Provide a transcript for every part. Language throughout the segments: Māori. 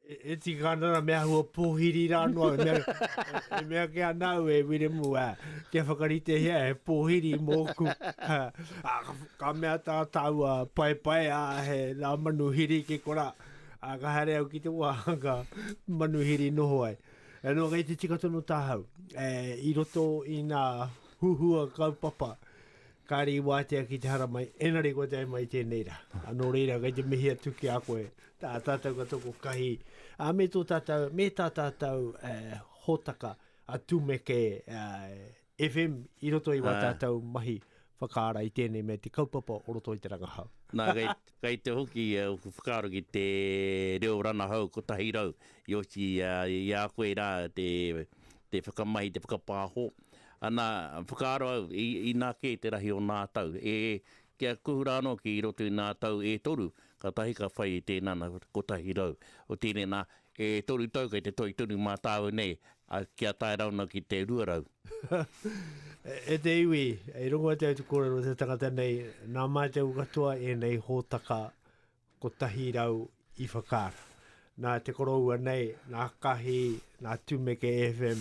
E tika ana na mea hua pōhiri rā noa, e mea, e mea ke anau e Wiremu, a, kia whakarite hea he pōhiri mōku. A, a, ka mea tā tāua pai pai a he rā manu hiri ke kora, a, ka haere au ki te wā, ka manu hiri noho ai. E no, kei te tika tono tāhau, e, i roto i nā huhua kaupapa, Kāre i wātea ki te haramai, engari kua tae mai tēnei rā. Nō reira, kei te mihi atu ki a koe, tā tātou ka toko kahi, ā, me tō tātou, me tā tātou e, hōtaka a Tumeke e, FM i roto i wā tātou mahi whakaara i tēnei mea te kaupapa o roto i te rangahau. Nā, kei, kei te hoki uh, oku whakaaro ki te reo ranahau kotahi rau, i oti uh, i a koe rā te te whakamahi, te whakapāho. Ana, whakaaro au, i, inā kē te rahi o nā tau, e, kia kuhu rā anō ki roto i nā tau e toru, ka tahi ka whai i tēnā na kotahi rau. Otiene nā, e toru tau kei te toi tonu mā tāu nei, a, kia tae rā anō ki te rua rau. E te iwi, i rongo atu au te kōrero o te tangata nei, nā Mātou katoa ēnei hōtaka Kotahi rau i whakaara. Nā te koroua nei, nā Kahi, nā Tumeke FM,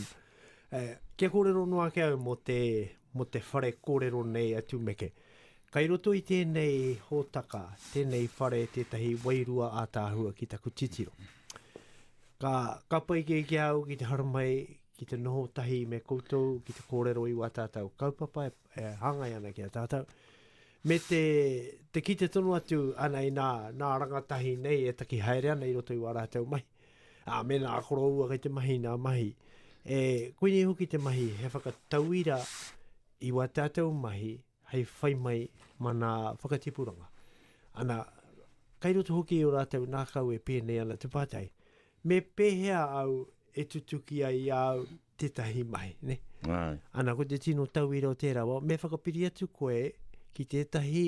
e, kia kōrero noa ake au mō te, mō te whare kōrero nei a Tumeke. Kai roto i tēnei hōtaka, tēnei whare, tētahi wairua ātaahua ki taku titiro. Ka, ka pai kē ki au ki te haramai, ki te noho tahi me koutou, ki te kōrero i wā tātou kaupapa e, e hāngai ana ki a tātou. Me te, te kite tonu atu, anei nā, nā rangatahi nei e taki haere ana i roto i wā rātou mahi. Ā, mēnā a koroua kei te mahi nā mahi, e, koinei hoki te mahi, he whakatauira i wā tātou mahi hei whai mai mā nā whakatipuranga. Ana, kei roto hoki i o rātou nā kau e pēnei ana te pātai, Me pēhea au e tutuki ai i a au tētahi mahi, ne? Ai. Ana, ko te tino tauira o tērā, wa, me whakapiri atu koe ki tētahi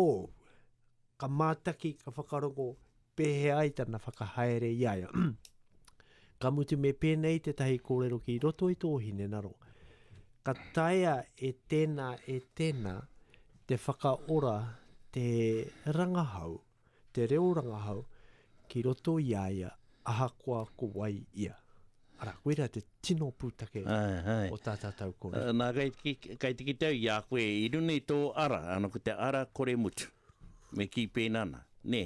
o, ka mātaki, ka whakarongo, pēhea ai tana whakahaere i aia. ka mutu me pēnei tētahi kōrero ki roto i tō hine naro. Ka taea e tēnā, e tēnā, te whakaora te rangahau. te reo rangahau ki roto i a ia ahakoa ko wai ia. Arā, koirā te tino pūtake o tā tātou kōrero. Nā, kei te kite au i a koe, i runga i tō ara, ana, ko te ara kore mutu. Me kī pēnā ana, nē.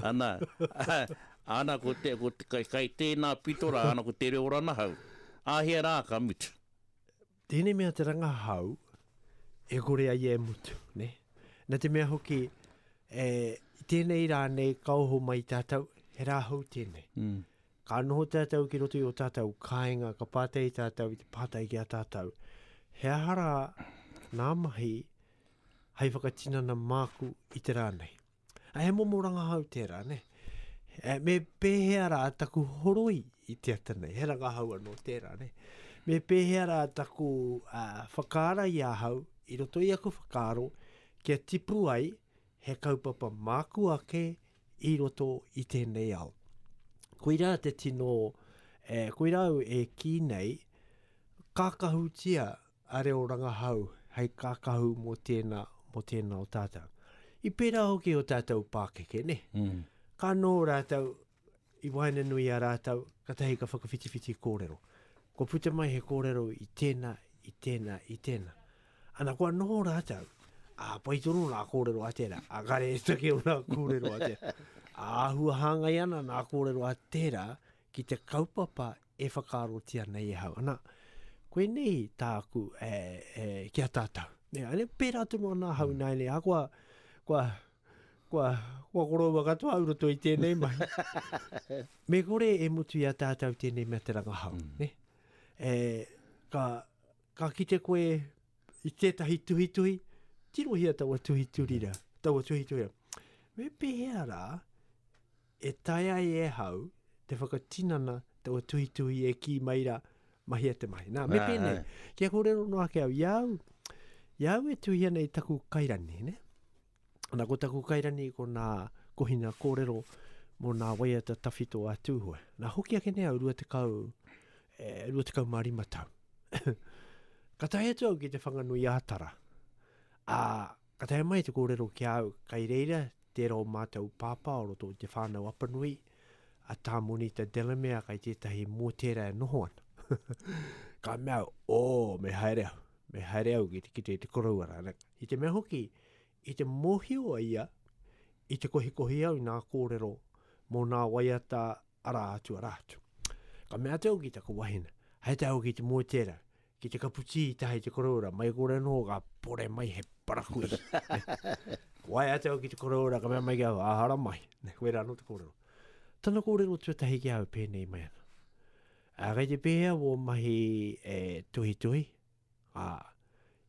Ana, ana, ko te, ko te, kei tēnā pito rā, ana, ko te reo ranahau, āhea rā ka mutu. Tēnei mea te rangahau e kore ai e mutu, ne? Na te mea hoki, e, i tēnei rā nei ka oho mai tātou, he rā hou tēnei. Mm. Ka noho tātou ki roto i o tātou kāinga, ka pātai tātou i te pātai ki a tātou, he aha rā nā mahi hai whakatinana māku i te rā nei? Ai he momo rangahau tērā, ne? E, me pēhea rā taku horoi i te ata nei, he rangahau anō tērā, ne? Me pēhea rā taku uh, whakaara i ahau, i roto i aku whakaaro, kia tipu ai he kaupapa māku ake i roto i tēnei ao. Koirā te tino, e, koirā au e kī nei, kākahutia a reo rangahau hei kākahu mō tēnā, mō tēnā o tātou. I pērā hoki o tātou pākeke, ne? Mm. Ka anō rātou, i waina nui a rātou, katahi ka whakawhitiwhiti kōrero. Ko puta mai he kōrero i tēnā, i tēnā, i tēnā. Ana kua noho rātou, a pai tonu nā kōrero a tērā, a kare e take o nā kōrero a tērā. A āhua hāngai ana nā kōrero a tērā ki te kaupapa E whakaarotia nei ahau, ana, koinei tāku e, e, ki a tātou. Nē, ane, pērā tonu ana ahau mm. nāinei, a kua, kua, kua, kua koroua katoa au roto i tēnei mahi. Me kore e mutu i a tātou tēnei mea te rangahau, mm. ne? E, ka, ka kite koe i tētahi tuhituhi, tirohia taua tuhiturira, taua tuhiturira. Me pēhea rā, E taea ai e hau te whakatinana taua tuhituhi e kī mai ra, mahia te mahi. Nā, me pēnei, kia kōrero noa ake au, i a au, i a au e tuhi ana i taku kairani, ne? Ana, ko taku kairani ko nā kohina kōrero mō nā waiata tawhito a Tūhoe. Nā, hoki ake nei au rua tekau, e, rua tekau mā rima tau. ka tae atu au ki te Whanganui-ā-Tara. Ā, Ka taea mai te kōrero ki a au, kai reira tērā o mātou pāpā o roto i te whānau Apanui, a Tā Monita Delamere kai tētahi mō tērā e noho ana. ka mea au, ō, me haere au, me haere au ki te kite i te koroua rānei. I te mea hoki, i te mōhio a ia, i te kohikohi au i nā kōrero mō nā waiata arā atu, arā atu. Ka mea atu au ki taku wahine, haere au ki te mō tērā, Ki te kapu tī i taha i te koroura, mai kore anō ka pore mai he parakuihi. Ko ai atu au ki te koroura, ka mea mai ki au, ahara mai. Nei, koe rā anō te kōrero. Tana kōrero tuatahi ki au pēnei mai ana. A, kei te pēhea wō mahi e tuhituhi, a,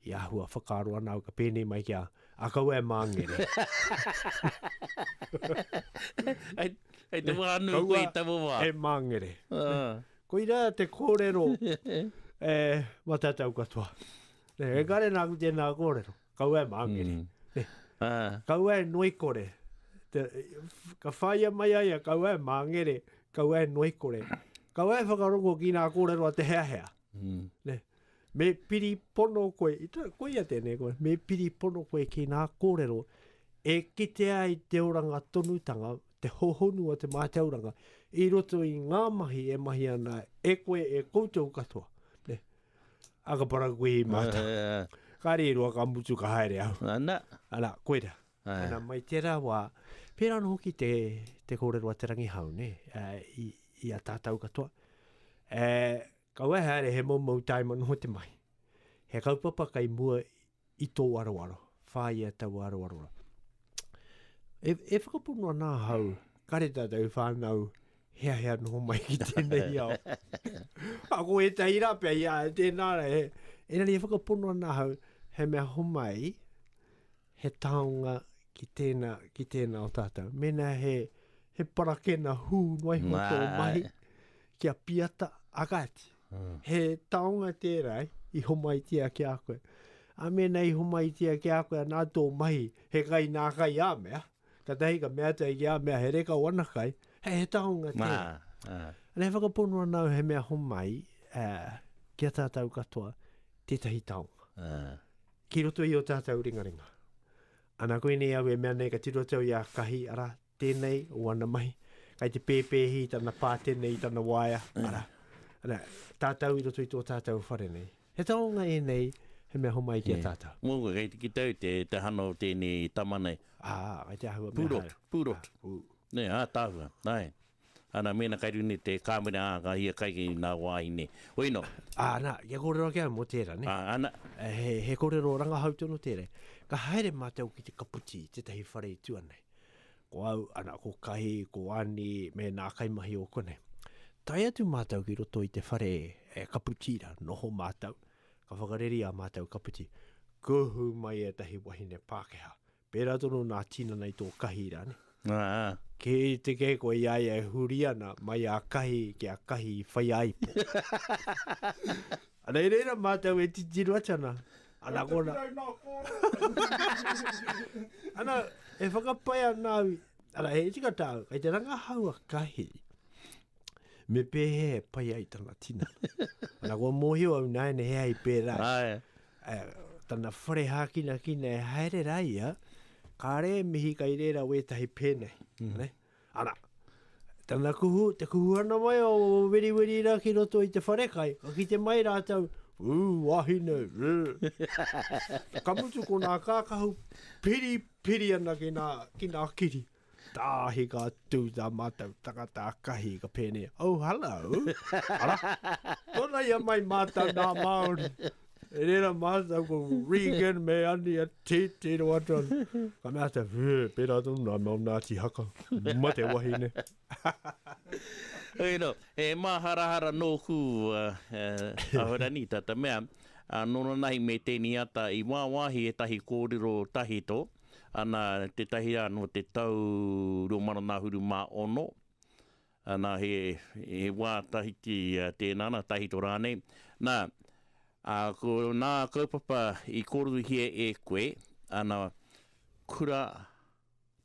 i ahua whakaaro ana au ka pēnei mai ki a, a kaua e māngere. Hei, hei te wānu koe i taua wā. E māngere. Uh. Koirā te kōrero e matatau katoa. Ne, e kare nā ku tēnā kōrero, kaua e māngere. Mm. Ah. Kaua e noikore. Te, ka whaia mai aia, kaua e māngere, kaua e noikore. Kaua e whakarongo ki nā kōrero a te hea hea. Mm. Ne, me piri pono koe, i tā, koe ia tēnei koe, me piri pono koe ki nā kōrero, e kitea i te oranga tonutanga, te hōhonu a te mātauranga i roto i ngā mahi e mahi ana e koe e koutou katoa. Ne? A ka para koe i mātau. Uh, eh, eh. ka re roa ka mutu ka haere au. Ana. Ana, koe ra. Eh. Ana, mai tera wā, pērā no hoki te, te kōrero a te rangi hau, ne? Uh, i, i a tātau katoa. Uh, ka wai haere he mau mau taima noho te mahi. He kaupapa kai mua I tōu aroaro, whāia taua aroaro. E, e whakapono ana ahau, kare tātou whānau, hea hea noho mai ki tēnei ao. Ako e tahi rā pia, ia, tēnā rā, e, e nani e whakapono ana ahau, he mea homai, he taonga ki tēnā, ki tēnā o tātou. Mēnā he, he parakena hū noai hoa tō mahi, kia piata, a kāti. He taonga tērā i homaitia ki a koe. A mēnā i homaitia ki a koe anā tō mahi, he kai nā kai ā mea, katahi ka mea atu ai ki a mea he reka o ana kai, he, he taonga tērā. Nā, nā. Ana e whakapono ana au he mea homai uh, ki a tātou katoa tētahi taonga. Uh. Ki roto i o tātou ringaringa. Ana koinei au e mea nei ka tiro atu au i a Kahi, ara, Tēnei o ana mahi. Kai te pēpēhi i tana pā, tēnei i tana waea, ara. Ara, tātou i roto i tō tātou whare nei. He taonga ēnei, he mea homai ki a tātou. Yeah. Mōku, kei te kite au te, te hana o tēnei tama nei. Ah, kai te āhua mea haere. Pūrotu, pūrotu. Ah, pū. Nē, ātaahua, nāe. Ana, mēnā kei runga i te kāmera, ā, ka hia kai nā wāhine. Hoi nō. Ana, kia kōrero ake au mō tērā, nē. Ā, ana. He, he kōrero rangahau tonu tērā. Ka haere mātou ki te kaputi i tētahi whare i tua nei. Ko au, ana, ko Kahi, ko Ani, me nā kaimahi o konei. Tae atu mātou ki roto i te whare e kaputi rā, noho mātou, ka whakareri ā mātou kaputi. Kuhu mai ētahi wahine Pākehā, Pērā tonu nā tinana i tō kahi rā ne. Aa. Kē te kē koe i a ia e huri ana mai a kahi ki a kahi i whai a ipo. Ana i reira mātou e titiro atu ana. Ana ko nā. ana e whakapae ana au. Ana he tika tāu, kei te rangahau a kahi. Me pēhea e pai ai tana tinana. ana kua mōhio au nāiane he ai pērā. Ae. Tana whare hākinakina e haere rā ia, kāre e mihi kai rērā wētahi pēnei. Mm. Ana, tana kuhu, te kuhuhana mai o weriweri rā ki roto i te wharekai, ka kite mai rātou, ū, wahine, ū. ka mutu ko nā kākahu piri, piri ana ki nā, ki nā kiri. Tāhi ka tū tā mātou tangata kahi ka pēne, oh hello, ara, tōna ia mai mātou nā Māori. E rera mātou ko Regan me ani a tētē ro atu anu. Ka mea te, wē, pērā tonu nā mō Ngāti Haka, ma te wahine. Hei no, e māharahara nōku uh, uh, ahorani tata mea, uh, noronahi me tēni ata i wāwāhi e tahi kōrero tahito, Ana, tētahi rā nō te tau rua mano nā huru mā ono, nā, he, he wā tahiti tēnā, nā, tahito rānei. Nā, ā, ko nā kaupapa i kōreruhia e koe, ana, kura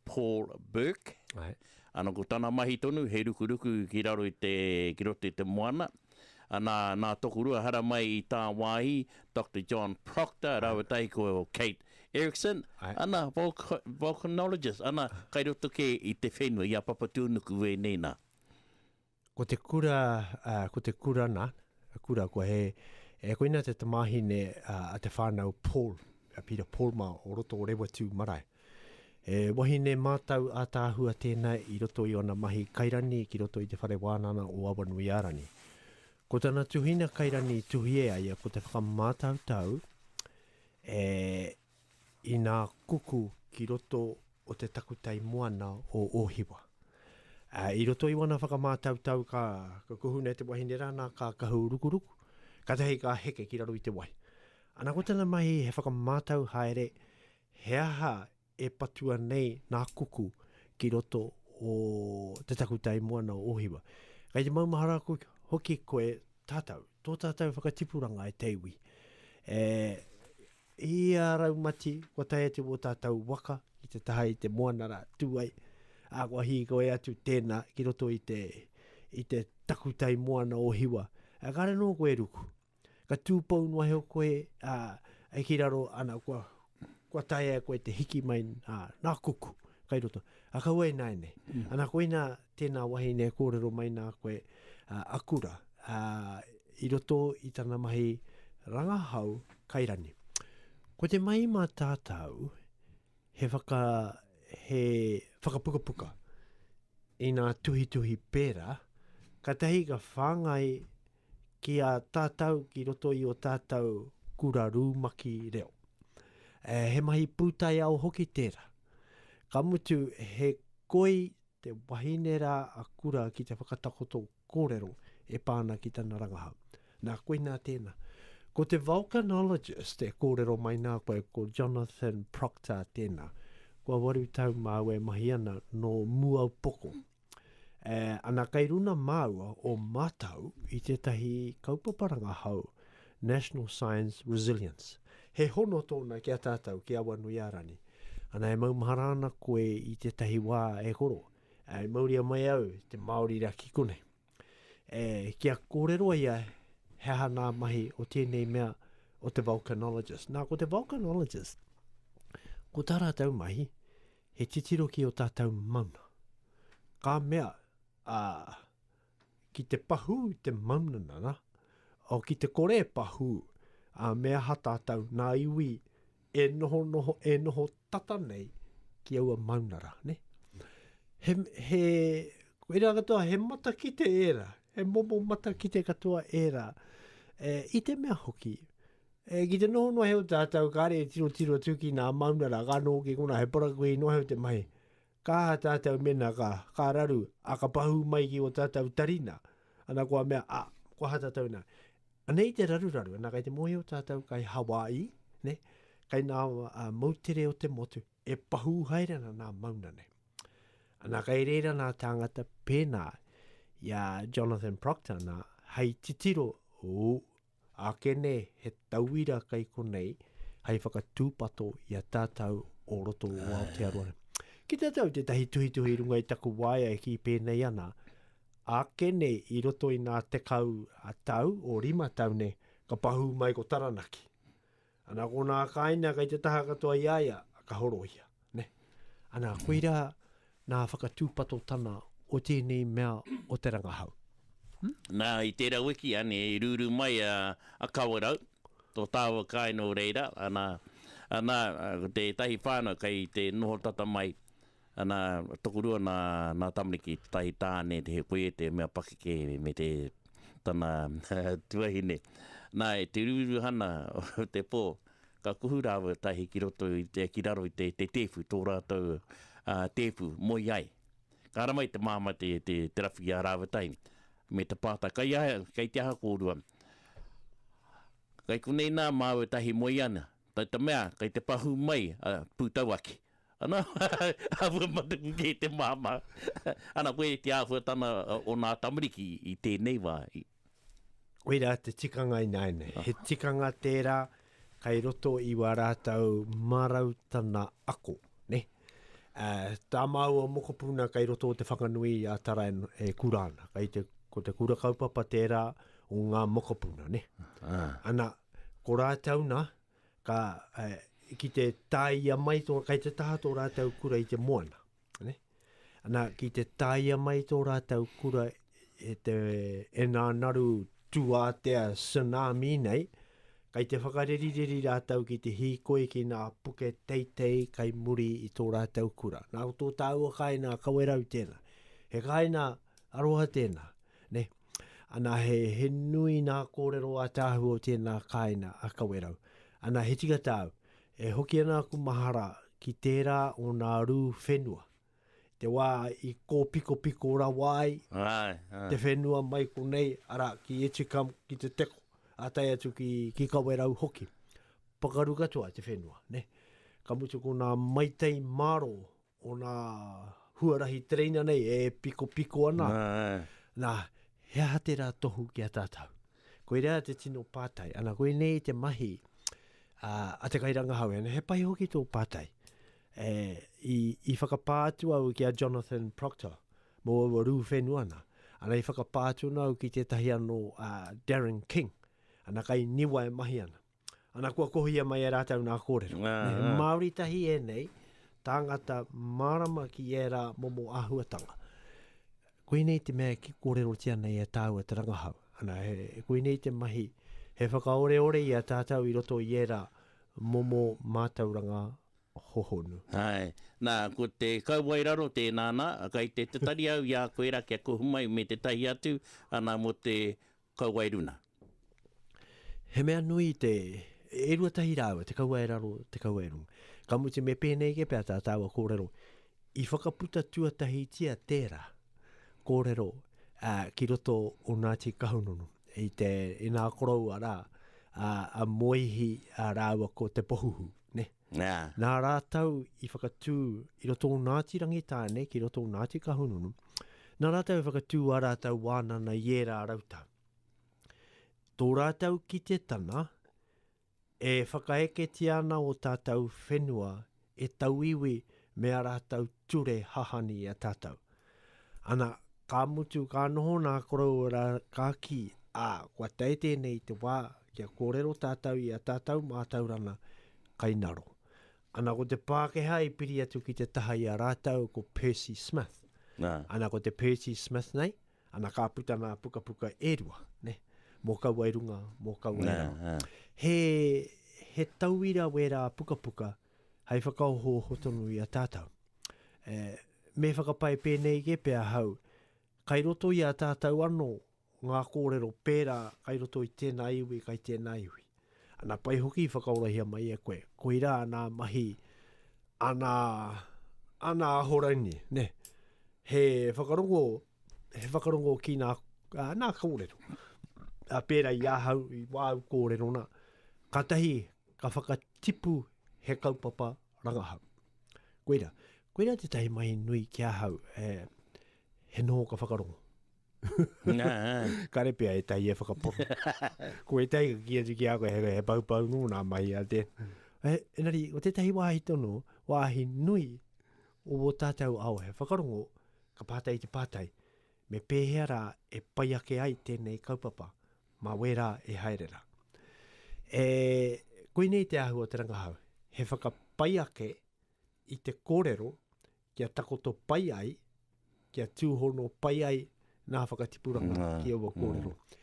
Paul Burke, Aye. ana, ko tana mahi tonu, he rukuruku ki raro i te, ki roto i te moana, Anā, nā Tokorua haramai i tāwāhi, Doctor John Proctor rāua tahi ko Kate Erickson, ana, volcanologist, ana, kai roto kē i te whenua, i a Papatūnuku wēnei nā. Ko te kura, ko te kura nā, kura kua he, e koina te tamāhine a te whānau Paul, a Peter Paul mā o roto o Rewa-tū-marae. He wahine mātau ātaahua tēnā i roto i ōna mahi kairani ki roto i Te Whare Wānana o Awanuiārani. Ko tana tuhinga kairani i tuhi e a ia ko te whakamātautau e inā kuku ki roto o te takutai moana o Ōhiwa. Ā, i roto i wana whakamātautau ka, ka kuhu nei te wahine rā nā ka kahu rukuruku, kātahi ka heke ki raro i te wai. Ana ko tana mahi he whakamātau haere He aha e patua nei nā kuku ki roto o te takutai moana o Ōhiwa? Kei te maumahara hoki koe tātou, tō tātou whakatipuranga e te iwi. E, i a Raumati, kua tae atu o tātou waka i te taha i te moana rā, tū ai, ā, kua hīkoi atu tēnā ki roto i te, i te takutai moana o Hiwa. Kāre nō koe ruku, ka tūpou noa heo koe a, e ki raro ana kua, kua tae e koe te hiki mai a, nā kuku kai roto. A ka ua ina ene. Mm. Ana koina tēnā wahine e kōrero mai nā koe a, a kura a, i roto i tana mahi rangahau kai rani. Ko te mahi mā tātau he, whaka, he whakapukapuka i nā tuhituhi pērā, katahi ka whāngai ki a tātau ki roto i o tātau kura rūmaki reo. E, he mahi pūtaiao hoki tērā. Ka mutu, he koi te wahine rā a kura ki te whakatakoto kōrero e pā ana ki tana rangahau. Nā, koinā tēnā. Ko te volcanologist e kōrero mai nā koe, ko Jonathan Proctor tēnā. Kua waru tau māu e mahi ana, nō Muaupoko. E, ana kei runa māua o mātau i tētahi kaupapa rangahau, National Science Resilience. He hono tōna ki a tātau, ki Awanuiārani. Ana e maumahara ana koe i tētahi wā e koro, e mauria mai au te Māori rā ki konei. E, kia kōrero ia he aha nā mahi o tēnei mea o te volcanologist. Nā, ko te volcanologist, ko tā rātau mahi, He titiro ki o tatou mauna. Ka mea, a, ki te pahū te mauna nana, o ki te kore e pahū, a, me aha tatou, nā iwi e noho noho, e noho tata nei ki aua mauna ra, ne? He, he, koira katoa, he matakite era, he momo matakite katoa era, e, i te mea hoki, E, ki te noho noa heo tātou, kāre e tirotiro atu ki nā maunara, ka noho ki konā, he parakuihi noa heo te mahi. Ka aha tātou mēnā ka, ka raru, ā, ka pahū mai ki o tātou tarina, ana kua mea, a, ko aha tātou ina? Anei te raruraru, ana kei te mōhio tātou kai Hawai'i, ne, kai nā a, moutere o te motu, e pahū haere ana nā mauna nei. Ana kai rēra nā tāngata pēnā i a Jonathan Proctor nā, hei titiro, ū, Ākene he tauira kei konei hei whakatūpato i a tātou o roto o Aotearoa. Ki te tau tētahi tuhituhi i runga i taku waea e kī pēnei ana, ākene i roto i ngā tekau tau o rima tau nei, ka pahū mai ko Taranaki. Ana ko nā kāinga kei te taha katoa i a ia, ka horohia. Ne? Ana, koirā nā whakatūpatotana o tēnei mea o te rangahau. Hmm? Nā, i tērā wiki, ane, i rūrū mai a, a Kawerau, tō tāua kāinga o reira, ana, ana, ko tētahi whānau kei te noho tata mai, Ana, tokorua nā, nā tamariki, tētahi tāne, he koia te mea pakeke me te, tana tuahine. Nā, i te ruruhana o te pō, ka kuhu rāua tahi ki roto, i te, ki raro i te, te tēpu, tō rātou uh, tēpu, moe ai. Ka ara mai te māma te, te, te rapu i a rāua tahi, me te pātai, kai, a, kai te aha kōrua? Kai konei nā māua tahi moe ana, tai te mea, kai te pahu mai a uh, pūtau aki. Ana, āhua matakuke te māmā. Ana, koe te āhuatana o nā tamariki i tēnei wā. I. Koirā te tikanga ināianei. He tikanga tērā kai roto i wā rātou marautana ako. Nē? Ā, tā māua mokopuna kai roto o Te Whanganui a Tara e kura ana. Kai te, ko te kura kaupapa tērā o ngā mokopuna, nē? Ana, ko rātou nā, ka, uh, ki te tāia mai tō, kai te taha tō rātau kura i te moana. Ne? Ana, ki te tāia mai tō rātau kura e te e nā naru tūātea tsunami nei, kai te whakarerireri rātau ki te hīkoi ki nā puke teitei kai muri i tō rātau kura. Nā tō tāua kāinā kawerau tēnā. He kāinā aroha tēnā. Ne? Ana, he, he nui nā kōrero a Te Ahu o tēnā kāina a Kawerau. Ana, he tika tāu, e hoki ana aku mahara ki tērā o nā rū whenua, te wā i kōpikopiko rawa ai Ai, ai. te whenua mai konei, arā, ki Etikam, ki Te Teko, ā tae atu ki, ki Kawerau hoki. Pakaru katoa te whenua, nē. Ka mutu ko nā maitai mārō Ōna huarahi tereina nei e pikopiko ana. Nā, ā. Nā, he aha tērā tohu ki a tātou? Koirā te tino pātai. Ana, koinei te mahi a, a te kairangahau. Ana, he pai hoki tō pātai. E, i, i whakapā atu au ki a Jonathan Proctor mō aua rū whenua ana. Ana, i whakapā atu ana au ki tētahi anō a Darren King. Ana, kai niwa e mahi ana. Ana, kua kohia mai e rātou nā kōrero. Nā, nā. He Māori tahi ēnei, tāngata mārama ki ērā momo āhuatanga. Koinei te mea ki kōrerotia nei e tāua te rangahau. Ana, he, koinei te mahi, he whakaoreore i a tātou i roto i ērā momo mātauranga hohonu. Hai. Nā, ko te kauae raro tēnā, nā, kei te tatari au i a koe rā kia kohu mai me tētahi atu, ana, mō te kauae runa. He mea nui te, e rua tahi rāua, te kaua e raro, te kaua e runga. Ka muti me pēnei ke pea tā tāua kōrero, i whakaputa tuatahitia tērā kōrero a, ki roto o Ngāti Kahungunu, i te, i nā koroua rā, a, a Moihi a rāua ko Te Pohuhu, ne? Nā. Nā rātou i whakatū i roto o Ngāti Rangitāne ki roto o Ngāti Kahungunu, nā rātou i whakatū ā rātou wānana i ērā rautau. Tō rātou kitetanga, e whakaeketia ana ō tātou whenua e tauiwi me ā rātou ture hahani i a tātou. Ana, ka mutu, ka noho nā koroua rā, ka kī, ā, kua tae tēnei te wā kia kōrero tātou i a tātou mātauranga kai ngaro. Ana, ko te Pākehā i piri atu ki te taha i a rātou ko Percy Smith. Nā. Ana, ko te Percy Smith nei, Ana ka puta nā pukapuka e rua, ne, mō kaua i runga, mō kaua i raro. Yeah, yeah. He, he tauira wērā pukapuka hei whakaohooho tonu i a tātou. E, me whakapae pēnei kē pea ahau, kai roto i a tātou anō ngā kōrero pērā kai roto i tēnā iwi, kai tēnā iwi. Ana pai hoki i whakaorahia mai e koe. Koira ana mahi, ana, ana ahorangi, ne? He whakarongo, he whakarongo ki nā, nā kōrero. A pērā i ahau, i wāu kōrero nā, ka tahi, ka whakatipu he kaupapa rangahau. Koira, koira te tahi mahi nui ki ahau, he, he noho ka whakarongo. Nā. Kare pea ētahi e whakapono. ko ētahi ka ki atu ki a koe, he, he paupau nō nā mahi a te. E, enari, ko tētahi wāhi tono, wāhi nui o wō tātou ao, he whakarongo, ka pātai te pātai, me pēhea rā e pai ake ai tēnei kaupapa, mā wērā e haere rā. E, koinei te āhua o te rangahau, he whakapai ake i te kōrero kia takoto pai ai, kia tūhono pai ai nā whakatipuranga Nā, ki aua mm. kōrero. Mm.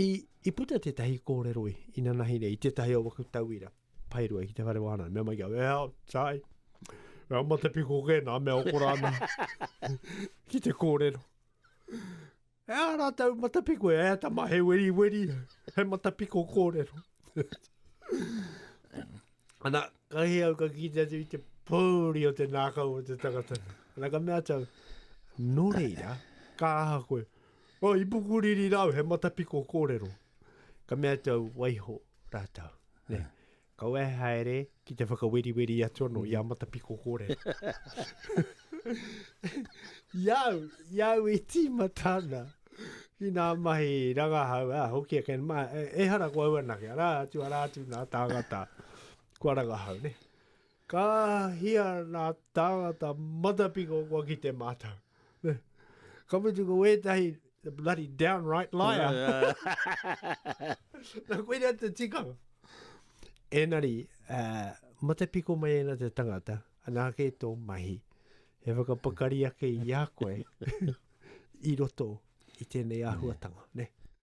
I, I puta tētahi kōrero i, i nanahi nei, i tētahi o waku tauira, pairua ki te whare wāna, mea mai kia, well, tai, well, mata piko kē nā, mea okora ana, ki te kōrero. E ā rātou matapiko, e ata mā, he weriweri, he matapiko kōrero. Ana, ka hi au ka kite atu i te pōuri o te nākau o te tangata. Ana ka mea tau, nō reira, ka aha koe? O, i pukuriri rāu, he matapiko kōrero. Ka mea tau, waiho rātou. Ne? Kaua e haere ki te whakaweriweri atu anō i a Matapiko kōrero. I au, i au e tīmata ana ki nā mahi rangahau, a hoki a Ken, ma, e, e hara ko au anake, arā atu, arā atu nā tāngata kua rangahau, ne? Ka hia nā tāngata matapiko kua kite mātou. Ka mutu ko wētahi, the bloody downright liar. nā koina te tikanga. Enari, uh, matapiko mai ena te tangata, anā kē tō mahi, he whakapakari ake i a koe i roto i tēnei āhuatanga, ne?